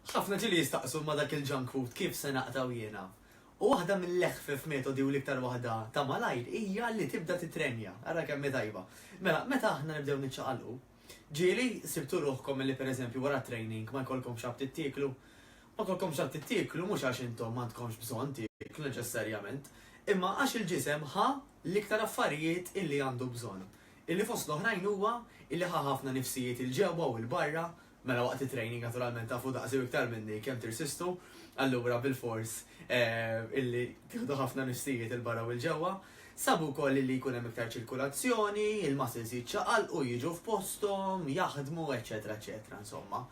Ħafna ġieli jistaqsu ma dak il-junk food kif se naqtgħu jiena? U waħda mill-eħfef metodi u l-iktar waħda ta' malajr hija li tibda titrenja. Ara kemm hi tajba. Mela, meta aħna nibdew niċċaqalqu, ġieli sibtu ruħkom li pereżempju wara t-training ma jkollkomx aptit tieklu? Ma jkollkomx aptit tieklu mhux għax intom m'għandkomx bżonn tieklu neċessarjament, imma għax il-ġisem ħa l-iktar affarijiet illi għandu bżonn. illi fost l-oħrajn huwa illi ħa ħafna nifsijiet 'il ġewwa u 'il barra, mela waqt it-training naturalment tafu daqsi u iktar minni kemm tirsistu, allura bilfors illi tieħdu ħafna nifsijiet 'il barra u 'il ġewwa. Sabu wkoll illi jkun hemm iktar ċirkulazzjoni, il-muscles jiċċaqalqu, jiġu f'posthom, jaħdmu, eċċetera eċċetera insomma.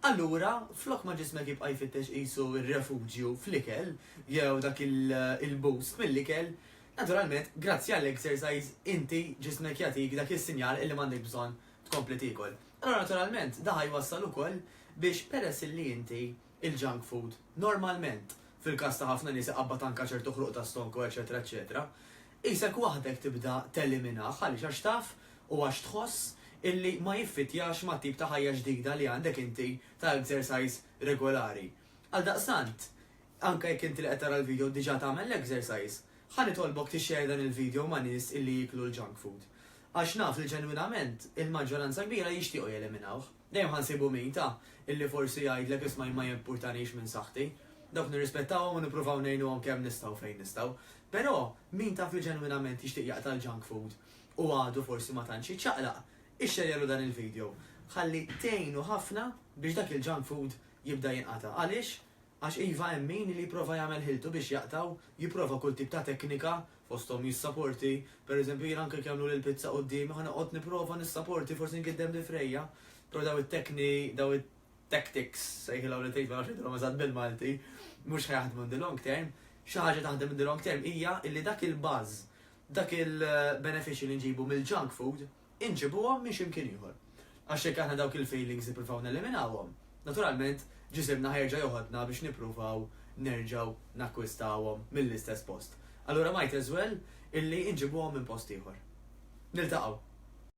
Allura, flok ma ġismek jibqa' jfittex qisu r-refuġju fl-ikel jew dak il-boost mill-ikel, Naturalment, grazzi għall-exercise inti ġismek jagħtik dak is-sinjal illi m'għandek bżonn tkompli tiekol. Allura naturalment da ħa jwassal ukoll biex peress illi inti il-junk food normalment, fil-każ ta' ħafna nies iqabbad anke ċertu ħruq ta' stonku eċċetera eċċetera, qisek waħdek tibda teliminah għaliex għax taf u għax tħoss illi ma jiffittjax mat-tip ta' ħajja ġdida li għandek inti ta' exercise regolari. Għaldaqstant, Anke jekk inti li qed tara l-video diġà tagħmel l-exercise, ħa nitolbok tixxerr dan il-video ma' nies illi jieklu l-junk food. Għax naf li ġenwinament, il-maġġoranza kbira jixtiequ jeliminawh. Dejjem ħa nsibu min, ta, illi forsi jgħidlek isma' jien ma jimpurtanix minn saħħti. Dawk nirrispettawhom u nippruvaw ngħinuhom kemm nistgħu fejn nistgħu. Però, min taf li ġenwinament jixtieq jaqta' l-junk food u għadu forsi ma tantx jiċċaqlaq, ixxerrjalu dan il-video. Ħalli tgħinu ħafna biex dak il-junk food jibda jinqata'. Għaliex? Għax iva hemm min li jipprova jagħmel ħiltu biex jaqta' u jipprova kull tip ta' teknika, fosthom jissaporti, pereżempju jiena anke jekk jagħmlu li l-pizza quddiemi ħa noqgħod nipprova nissaporti forsi ngiddem li frejja, però daw it-tekni, daw it-tactics, sejħilhom li trid ma nafx ngħidilhom eżatt bil-Malti, mhux ħa jaħdmu in the long term. Xi ħaġa taħdem in the long term hija li dak il-buzz, dak il-benefiċċju li nġibu mill-junk food, inġibuhom minn xi mkien ieħor. Għax jekk aħna dawk il-failings nippruvaw neliminawhom, naturalment ġisimna ħajerġa' joħodna biex nippruvaw nerġgħu nakkwistawhom mill-istess post. Allura might as well illi inġibuhom minn post ieħor. Niltaqgħu!